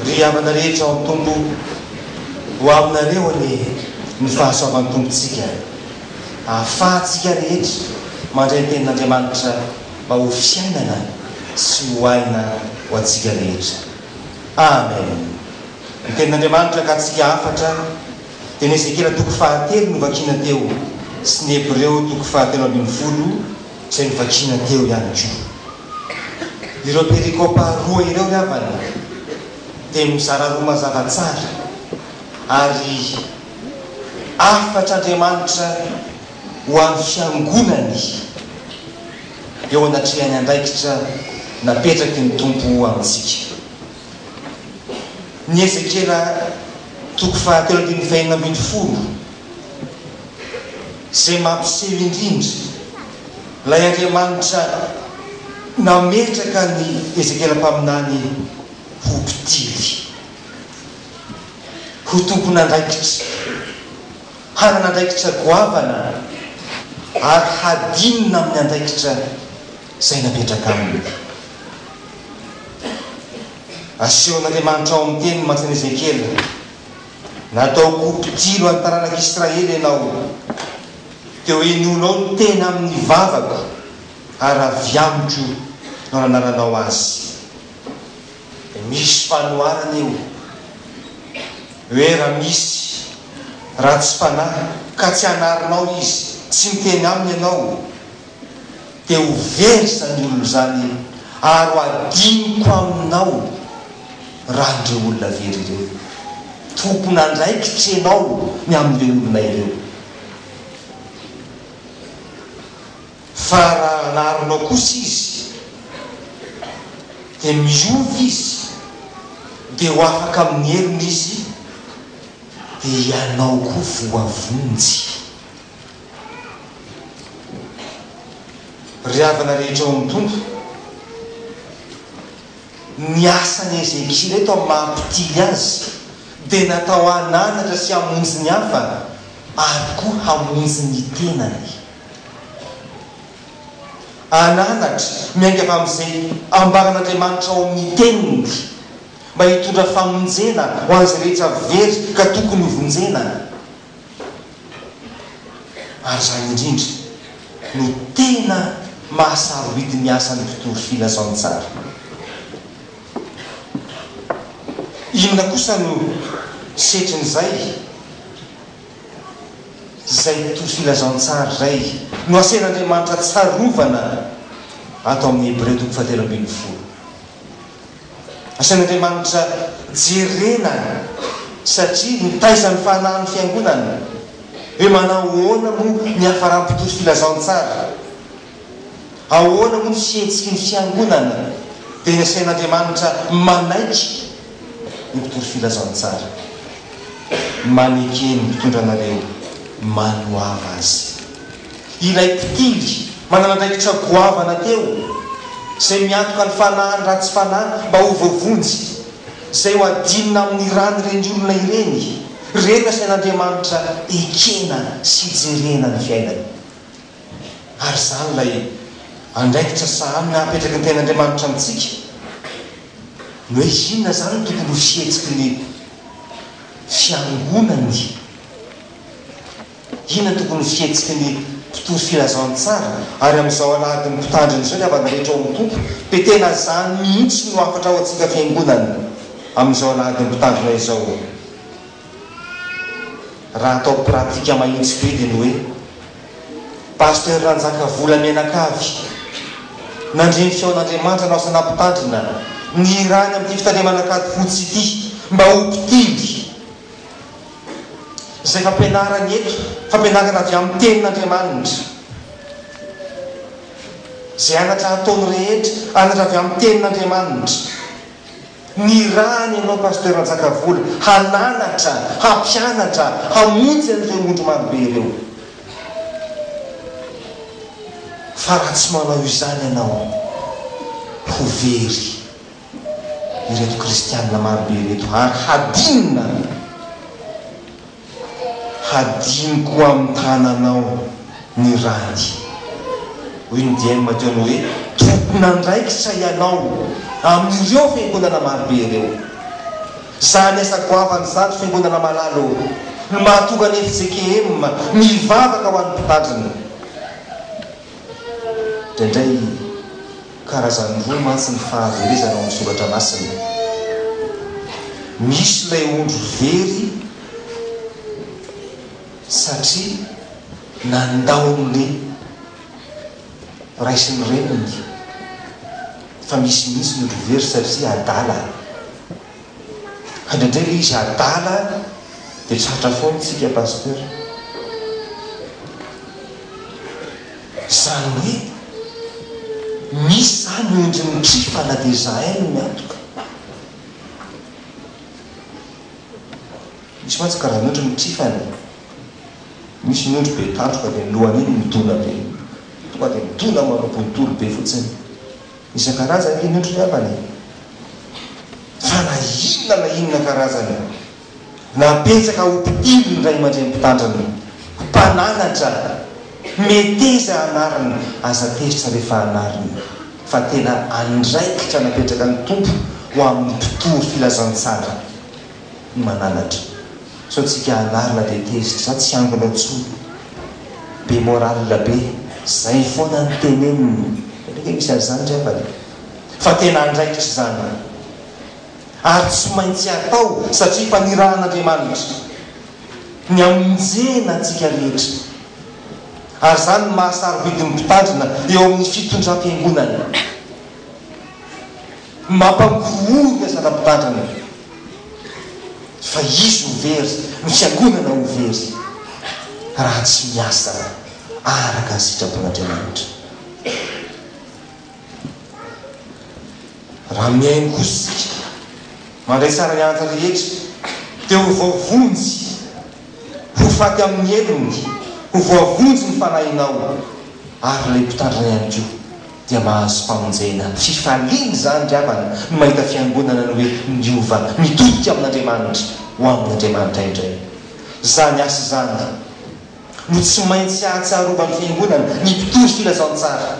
Ry havana rehetra ao amin'ny Tompo, ho aminareo anie ny fahasoavan'ny Tompontsika, ahafahantsika rehetra mandray ny Tenin'Andriamanitra mba ho fiainana sy ho aina ho antsika rehetra. Amen. Ny Tenin'Andriamanitra ankantsika hafatra dia ny Ezekiela toko fahatelo novakiana teo sy ny Hebreo toko fahatelo ambin'ny folo izay novakiana teo ihany koa. Ireo perikopa roa ireo ry havana dia mizara roa mazava tsara ary hafatr'Andriamanitra ho an'ny fiangonany eo anatrehan'ny andraikitra napetraky ny Tompo amintsika. Ny Ezekiela toko fahatelo andininy fahenina ambin'ny folo. Izay mampiseho indrindra ilay Andriamanitra nametraka an'i Ezekiela mpaminany ho mpitily, ho tompon'andraikitra, hanana andraikitra goavana ary hadinina amin'ny andraikitra izay napetraka aminy. Asehon'Andriamanitra ao amin'ny Teniny mantsy an'i Ezekiela Nataoko ho mpijoro an'ny taranak'Israely ianao. Teo henoinao ny teny amin'ny vavako, ary avy amiko no nanananao azy. Dia misy fanoharana eo hoe raha misy ratsy fanahy ka tsy hanarinao izy, tsy miteny aminy ianao, dia ho very izany olona izany ary ho adinoko aminao raha ireo olona very ireo. Tompon'andraikitra ianao ny amin'ireo olona ireo. Fa raha anarinao kosa izy dia miova izy dia ho afaka amin'ny heriny izy dia ianao koa voavonjy. Ry havana rehetra ao amin'ny Tompo, ny asan'i Hezekia ireto amin'ny maha mpitily azy dia natao hananatra sy hamonjy ny hafa ary koa hamonjy ny tenany. Hananatra, miainga avy amin'izay ambaran'Andriamanitra ao amin'ny Teniny mba hitondra famonjena ho an'izay rehetra very ka tokony hovonjena. Ary izany indrindra no tena mahasarobidy ny asan'ny mpitory filazantsara. Inona kosa no setrin'izay? Izay mpitory filazantsara izay no asain'Andriamanitra tsarovana ato amin'ny Hebreo toko fahatelo ambin'ny folo. Asain'Andriamanitra jerena satria mitaiza ny fanahin'ny Fiangonana. Hoe manao ahoana moa ny hafaram-pitory filazantsara? Ahoana moa ny fihetsiky ny Fiangonana? Dia asain'Andriamanitra manaiky ny mpitory filazantsara. Maneke ny mpitondra anareo manoava azy. Ilay mpitily manana andraikitra goavana teo, izay miantoka ny fanahiny raha tsy fanahy mba ho voavonjy, izay ho adinina amin'ny rany ireny olona ireny, ireny nasain'Andriamanitra ekena sy jerena ny fiainany. Ary izany ilay andraikitra sahanina apetraky ny Tenin'Andriamanitra amintsika. Ny hoe inona izany no tokony ho fihetsiky ny Fiangonany? Inona tokony ho fihetsiky ny mpitory filazantsara? Ary amin'izao alahadin'ny mpitandrina izao ny havana rehetra ao amin'ny Tompo, dia tena izany mihitsy no hafatra ho antsika Fiangonana amin'izao alahadin'ny mpitandrina izao. Raha atao pratique mahitsy be dia ny hoe, Pasteur Ranjakavola mianakavy, nandre ny feon'Andriamanitra anao sanà mpitandrina, nihirany amin'ity fitandremana an-kady fotsy ity mba ho mpitily Izay fampianarany eto, fampianarana avy amin'ny Tenin'Andriamanitra. Izay anatra ataony rehetra, anatra avy amin'ny Tenin'Andriamanitra. Nirahany ianao Pasteur Njakavola, hananatra, hampianatra, hamonjy an'ireo ondry marobe ireo. Fa raha tsy manao izany ianao, ho very ireto kristiana marobe ireto ary hadinina hadino koa amin'ny tananao ny rany. Hoy ny dieny Mateo ny hoe, Tompon'andraikitra ianao amin'ireo fiangonana marobe ireo. Izany asa goavana izany ry fiangonana malala ô! Ny mahatonga ny fjkm mivavaka ho an'ny mpitandrina. Indraindray. Karazany roa mantsy ny fahaverezana ao amin'ny Soratra Masina. Misy ilay ondry very satria nandao ny ray sy ny reniny, fa misy mihitsy ny ondry very satria adala. Fa ndraindray le izy adala de tratra foana isika Pasteur. Zany hoe misy zany endriny trifa na de zahay no miantoka. Misy mantsy karazan'ondry ny trifany e. Misy ny ondry be tandroka de ny lohany iny midona be iny. Tonga de midona manao bontolo be fotsiny. Isan-karazany anie ny otriny angambany e! Fa na inona na inona karazany, na betsaka ho mpitily ny ray aman-dreny mpitandrina, mpananatra, meteza anarina, aza tezitra rehefa anarina fa tena andraikitra napetraky ny Tompo ho amin'ny mpitory filazantsara. ny mananatra sao tsika anarina dia tezitra za tsy angona intsony be morale be zay fona ny teneniny satria nge misy an'izany ry havana e fa tena andraikitra izany ary tsy maintsy atao satria efa nirahan'Andriamanitra ny amonjena antsika rehetra ary izany no maha sarobidy ny mpitandrina eo amin'ny fitondram-piangonana ny mampangorohoro ny asana mpitandrina Fa izy ho very no fiangonana ho very raha tsy miasa araka ny sitrapon'Andriamanitra. Raha mihaino kosa isika mandray saran'ny anatra rehetra dia ho voavonjy Ho faty amin' ny helony, ho voavonjy ny fanahinao, ary ilay mpitandrina ihany koa dia mahazo famonjena. Fifaliana izany ry havana ny mahita fiangonana ny hoe miova, mitodika amin' Andriamanitra, ho amin' ny Andriamanitra indray. Izany asa izany no tsy maintsy hahatsiarovan' ny fiangonana ny mpitory filazantsara.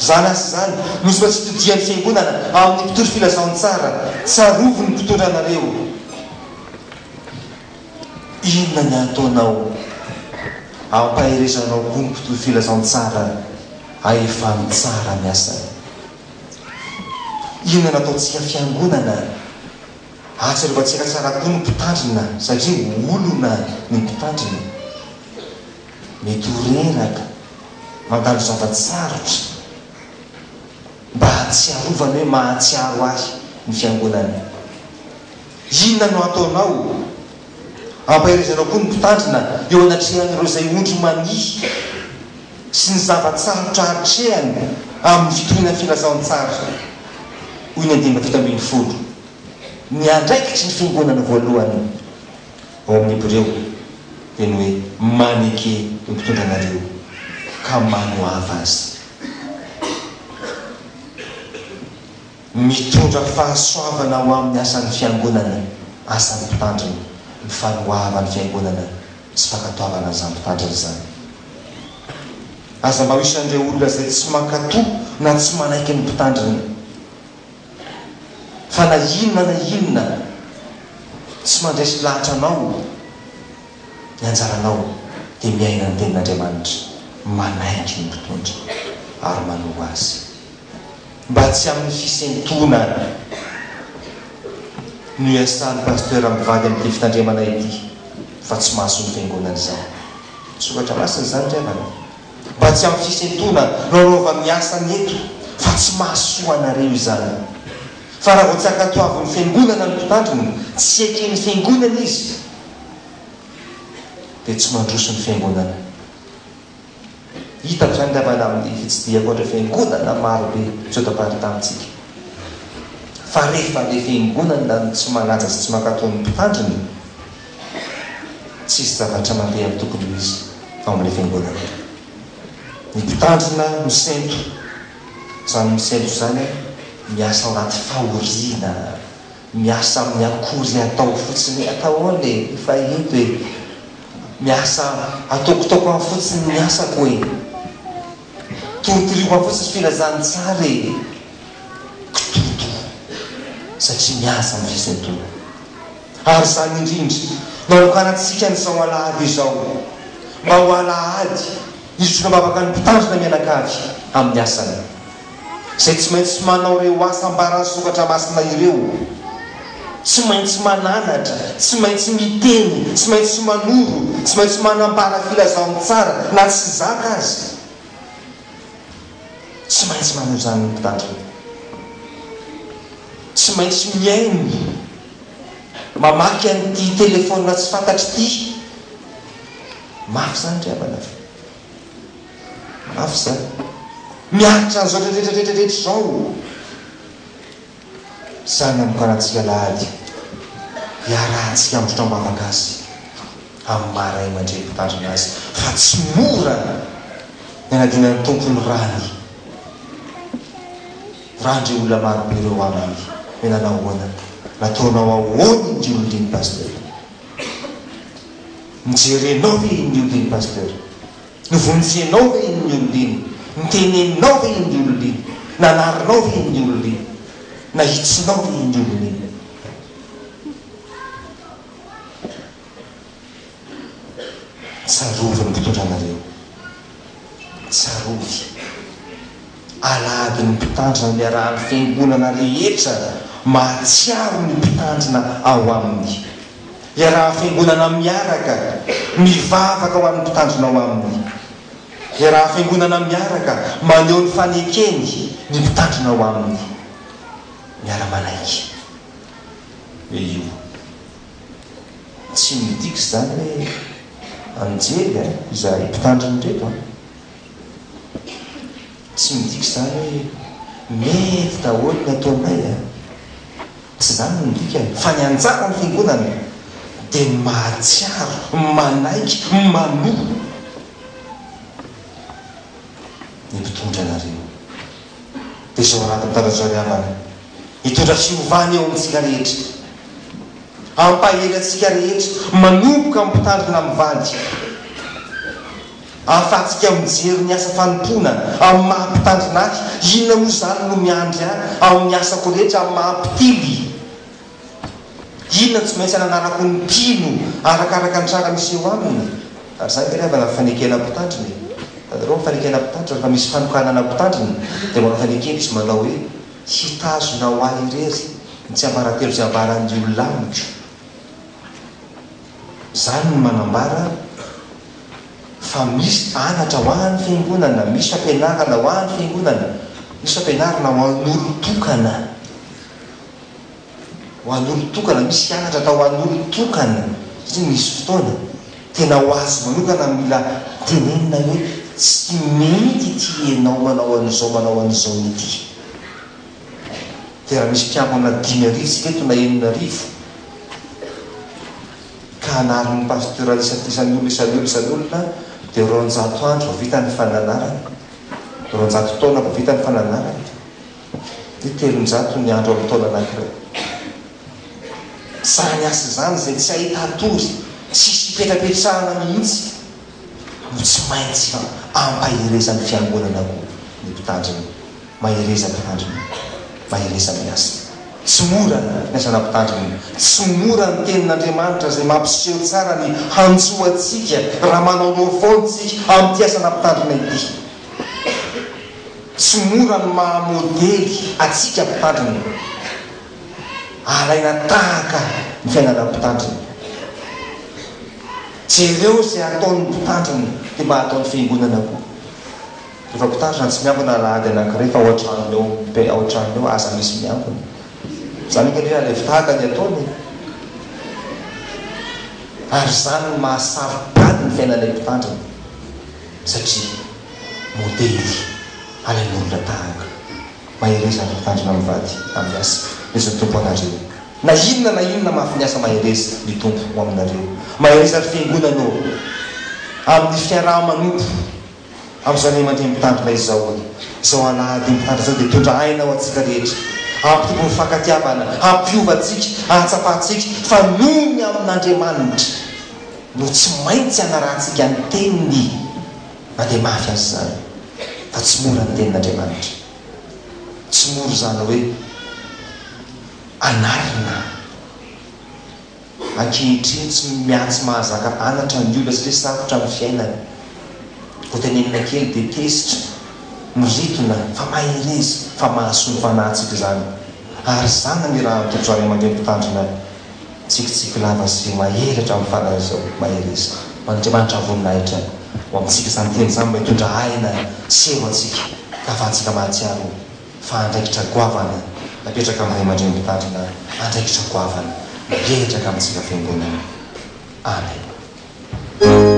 Izany asa izany no tsy maintsy hitodihan' ny fiangonana amin' ny mpitory filazantsara. Tsarovy ny mpitory anareo. Inona ny ataonao ampaherezanao koa ny mpitory filazantsara ahefany tsara ny asany? Inona no ataontsika fiangonana ahatsiarovatsika tsara koa ny mpitandrina satria olona ny mpitandrina? Mety ho reraka mandalo zava-tsarotra mba hahatsiarovany hoe mahatsiaro ahy ny fiangonana. Inona no ataonao? Ampaherezanao koa ny mpitandrina eo anatrehan'ireo izay ondry mania sy ny zava-tsarotra atrehany amin'ny fitoriana filazantsara. Hoy ny andininy fito ambin'ny folo, Ny andraikitry ny fiangonana voalohany ao amin'ny Hebreo dia ny hoe maneke ny mpitondra anareo ka manoava azy. Mitondra fahasoavana ho amin'ny asan'ny Fiangonana, asan'ny Mpitandrina, ny fanoavan'ny Fiangonana sy fankatoavana an'izany Mpitandrina izany. Aza mba ho isan'ireo olona izay tsy mankatò na tsy manaiky ny Mpitandrina, fa na inona na inona tsy mandresy lahatra anao ny anjaranao dia miaina ny Tenin'Andriamanitra, manaiky ny Mpitondra ary manoa Azy. Mba tsy amin'ny fisentonana no iasan'ny Pasteur mivady amin'ity fitandremana ity fa tsy mahasolo fiangonana izany. Soratra masina izany ry havana. Mba tsy amin'ny fisentonana no anaovany ny asany eto fa tsy mahasoa anareo izany. Fa raha vao tsy ankatoavin'ny fiangonana ny mpitandrina, tsy eken'ny fiangonana izy dia tsy mandroso ny fiangonana. Hita ny fiangavana amin'ny fitsidihako ireo fiangonana marobe misotaparty tamintsika. Fa rehefa ilay fiangonana no tsy manaja sy tsy mankatò ny mpitandriny, tsisy zavatra mandeha amin'ny tokony ho izy ao amin'ilay fiangonana io. Ny mpitandrina misento izany misento izany miasa ao anaty fahoriana. Miasa amin'ny akoury atao fotsiny atao ao le efa eto e! Miasa ataoko taoko any fotsiny ny asako e! Torotoroiko any fotsiny filazan'ny tsara e! Kitoto satria miasa ny fisentoana. Ary izany indrindra no anokanantsika ny zao alahady izao mba ho alahady hizotra mivavaka ny mpitandrina mianakavy amin'ny asany. izay tsy maintsy manao ireo asa ambaran'ny Soratra Masina ireo, tsy maintsy mananatra, tsy maintsy miteny, tsy maintsy manoro, tsy maintsy manambara filazantsara na tsy zaka aza. Tsy maintsy manao izany ny mpitandrina. Tsy maintsy mihaino, mamaky an'ity telefaonina tsy fantatro ity. Mafy izany ry havana. Mafy izany. Miaritra an'izao tretretretre rehetra izao. Sahy namokarantsika alahady hiarahantsika handrotra am-bavaka azy amin'ny maha ray aman-dreny mpitandrina azy fa tsy mora ny hanadinan'ny Tompo ny rany. Vorahan'ireo olona marobe ireo aminy hoe nanao ahoana, nataonao ahoana iny ry olona iny Pasteur. Nojerenao ve iny olona iny Pasteur? Novonjenao ve iny olona iny? Noteneninao ve iny olona iny? Nanarinao ve iny olona iny? Nahitsinao ve iny olona iny? Tsarovy ny mpitondra anareo. Tsarovy. Alahadin'ny Mpitandro ny Niarahan'ny Fiangonana rehetra mahatsiaro ny Mpitandrina ao aminy. Iarahan'ny Fiangonana miaraka mivavaka ho an'ny Mpitandrina ao aminy. Iarahan'ny Fiangonana miaraka maneho ny fanekeny ny Mpitandrina ao aminy. Miara-manaiky. Hoe io. Tsy midika izany hoe anjely izahay Mpitandrina ireto an. Tsy midika izany hoe mety daholo ny ataonay a! Tsy izany no dikany, fa ny anjaran'ny Fiangonana dia ny mahatsiaro, manaiky, manoa ny mpitondra anareo. Dia izao anatiny taratry ny havana hitondra fiovana eo amintsika rehetra, hampahery antsika rehetra manomboka amin'ny mpitandrina mivady. Ahafahantsika mijery ny asa fanompoana amin'ny maha mpitandrina ahy, inona moa izany no miandry ahy amin'ny asako rehetra amin'ny maha mpitily? Inona no tsy maintsy hananarako ny mpino arakaraka ny tranga miseho aminy? Ary izany angamba ilay fanekena mpitandrina e! Hitanareo ny fanekena mpitandrina? Rehefa misy fanokanana mpitandrina dia manao fanekena izy manao hoe, Hitazona ho ahy irery ny tsiambaratelo izay ambaran'ny olona amiko. Izany no manambara fa misy anatra ho an'ny Fiangonana, misy fampianarana ho an'ny Fiangonana, misy fampianarana ho an'olon-tokana, ho an'olon-tokana, misy hianatra atao ho an'olon-tokana, satria misy fotoana tena ho azy manokana no mila tenenina hoe tsy mety ity ianao manao an'izao manao an'izao ity. dia raha misy mpiangona dimy arivo tsika eto na enina arivo ka anarin'ny pasteur isan'isan'ny olona isan'olona isan'olona dia roanjato andro vao vita ny fananarana roanjato taona vao vita ny fananarana dia telonjato ny andro amin'ny taona anankiray izany asa izany izay tsy ahitany tory tsisy ipetrapetrahana mihitsy no tsy maintsy ampaherezan'ny fiangonana koa ny mpitandrina Mahereza mitandrina, mahereza miasa. Tsy mora ny asana mpitandrina. Tsy mora ny tenin'Andriamanitra izay mampiseho tsara ny hantsoantsika raha manaonao foana isika amin'ity asana mpitandrina ity. Tsy mora ny maha modely antsika mpitandrina. Alaina tahaka ny fiainana mpitandrina. Jereo izay ataon'ny mpitandrina dia mba ataon'ny fiangonana koa. Rehefa mpitandrina tsy miambina alahady anankiray fa ao an-tranony ao, dia ao an-tranony ao aza misy miambina. Izany anganie alevy tahaka ny ataony e! Ary izany no maha saro-pady ny fiainan'ilay mpitandrina, satria modely halain'olona tahaka. Mahereza ry mpitandrina mivady amin'ny asa, misy ny Tompo anareo. Na inona na inona mahafin'ny asa mahereza ny Tompo ho aminareo. Mahereza ry fiangonana ô! Amin'ny fiaraha-manompo. Ary izao anie mandeha mitandrina izao hoy izao alahady mitandrina izao dia tondra aina ho antsika rehetra hampitombo ny fifankatiavana, hampiova antsika, hahatsapantsika fa noho ny amin'Andriamanitra no tsy maintsy hanarahantsika ny teniny na dia mafy aza izany fa tsy mora ny tenin'Andriamanitra. Tsy mora izany hoe anarina. ankehitriny tsy miha-tsy mahazaka anatra ny olona satria sarotra ny fiainana. Vao tenenina kely dia tezitra, miritona, fa mahereza, fa mahasoa ny fanahintsika izany. Ary izany ny raha antoky izao ray aman-dreny mpitandrina tsikitsiky lava sy mahery hatramin'ny fanahy izao. Mahereza. Mandriamanitra voninahitra ho amintsika izany teny izany mba hitondra aina sy hery ho antsika ka afahantsika mahatsiaro fa andraikitra goavana napetraka amin'ny ray aman-dreny mpitandrina, andraikitra goavana mirehitra ka amintsika fiangonana. Amen.